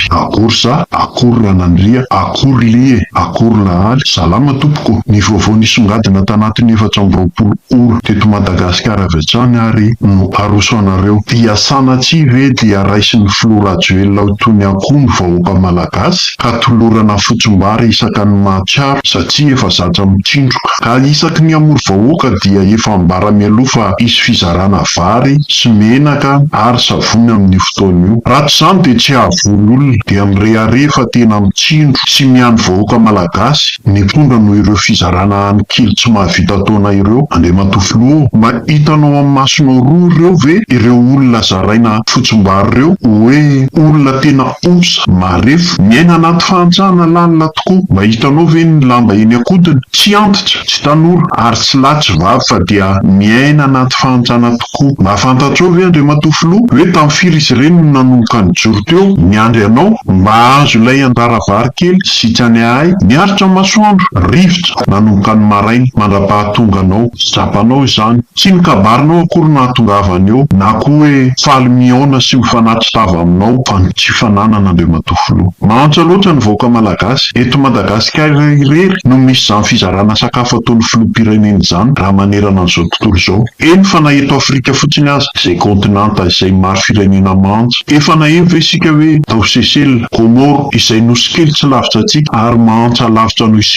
Akory za, akory Ranandria, akory lie, akory lahaly, salama tompoko, ny vaovao nisongadina tanatin'ny efatra amby roapolo ora teto Madagasikara avy hatrany ary no aroso anareo. Sanatria ve dia raisin'ny filoha Rajoelina ho toy ny akoho ny vahoaka malagasy ka tolorana fotsim-bary isaka ny mahatsiaro satria efa zatra mitsindroka ka isaky ny hamory vahoaka dia efa ambara mialoha fa hisy fizarana vary sy menaka ary savony amin'io fotoana io. Raha tsy izany dia tsy hahavory olona dia mirehareha fa tena mitsindro sy miandry vahoaka malagasy ny mpitondra noho ireo fizarana any kely tsy mahavita ataonay ireo Andriamatoa Filoha ô! Mba hitanao amin'ny masonao roa ireo ve ireo olona zaraina fotsimbary ireo hoe olona tena osa, marefo, miaina anaty fahantsana lalina tokoa? Mba hitanao ve ny lamba eny an-kodiny? Tsy antitra, tsy tanora, ary tsy lahy tsy vavy fa dia miaina anaty fahantsana tokoa. Mba fantatrao ve Andriamatoa Filoha hoe tamin'ny firy izy ireny no nanomboka nijoro teo niandry anao mba hahazo ilay anjara vary kely sy tsy any ahay? Miaritra ny masoandro, rivotra, nanomboka ny maraina mandra-pahatonganao. Tsapanao izany. Tsy ny kabarinao akory no nahatongavany eo, na koa hoe faly mihaona sy mifanatri-tava aminao, fa ny tsy fananan'Andriamatoa Filoha. Mahantra loatra ny vahoaka malagasy. Eto Madagasikara irery no misy izany fizarana sakafo ataon'ny Filoham-pirenena izany, raha manerana an'izao tontolo izao. Eny fa na eto Afrika fotsiny aza, izay kaontinanta izay maro firenena mahantra. Efa naheno ve isika hoe tao Seychelles, Comores, izay nosy kely tsy lavitra antsika, ary mahantra lavitra noho isika?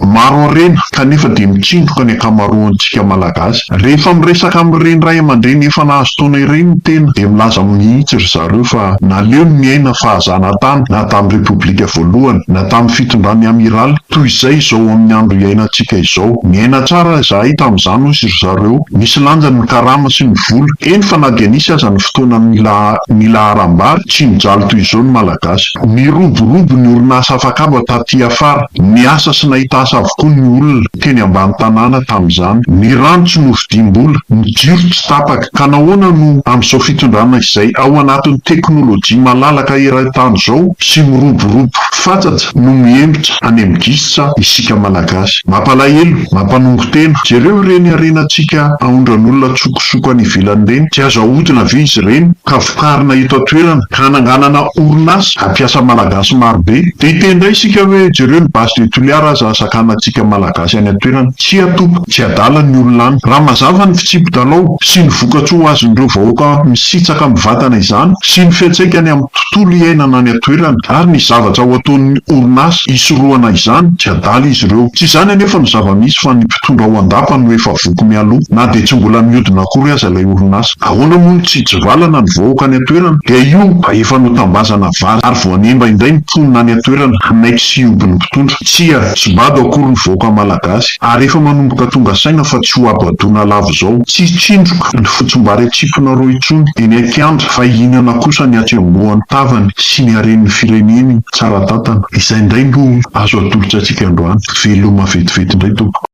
Maro harena, kanefa dia mitsindroka ny ankamaroantsika Malagasy. Rehefa miresaka amin'ireny ray aman-dreny efa nahazo taona ireny ny tena, dia milaza mihitsy ry zareo fa naleony niaina fahazana tany na tamin'ny Repoblika voalohany, na tamin'ny fitondran'ny Amiraly, toy izay izao amin'ny andro iainantsika izao. Niaina tsara izahay tamin'izany, hoy ry zareo. Nisy lanjany ny karama sy ny vola. Eny fa na dia nisy aza ny fotoana nila ny laharam-bary, tsy nijaly toy izao ny Malagasy. Niroborobo ny orinasa afakaba taty afara. Niasa sy nahita asa avokoa ny olona teny ambany tanàna tamin'izany. Ny rano tsy nofidiam-bola, ny jiro tsy tapaka. Ka nahoana no amin'izao fitondrana izay ao anatin'ny teknolojia malalaka eran-tany izao sy miroborobo fatsatsa no mihemotra any amin'ny gisitra isika Malagasy? Mampalahelo, mampanongo tena. Jereo ireny harenantsika aondran'olona an-tsokosoko any ivelany ireny. Tsy azo ahodina ve izy ireny ka taritina eto an-toerana ka hananganana orinasa hampiasa Malagasy marobe. Dia hiteny indray isika hoe jereo ny base de Toliara aza hasakanantsika Malagasy any an-toerana. Tsia tompoko, tsy adala ny olona any. Raha mazava ny fitsipi-dalao sy ny vokatsoa ho azon'ireo vahoaka misitsaka mivantana izany sy ny fiantsaikany amin'ny tontolo iainana any an-toerana ary ny zavatra ho ataon'ny orinasa hisorohana izany, tsy adala izy ireo. Tsy izany anefa no zava-misy fa ny mpitondra ao an-dapa no efa voky mialoha na dia tsy mbola mihodina akory aza ilay orinasa. Ahoana moa no tsy hitsivalana ny vahoaka any an-toerana? Dia io mba efa notambazana vary ary voanemba indray ny mponina any an-toerana hanaiky sy hihoby ny mpitondra. Tsia, tsy bado akory ny vahoaka malagasy ary efa manomboka tonga saina fa tsy hohabadoana lava izao. Tsy hitsindroka ny fotsimbary an-tsiponareo intsony eny an-kianja fa hihinana kosa ny hatsembohan'ny tavany sy ny haren'ny fireneny tsara tantana. Izay indray no azo atolotrantsika androany. Veloma vetivety indray tompoko.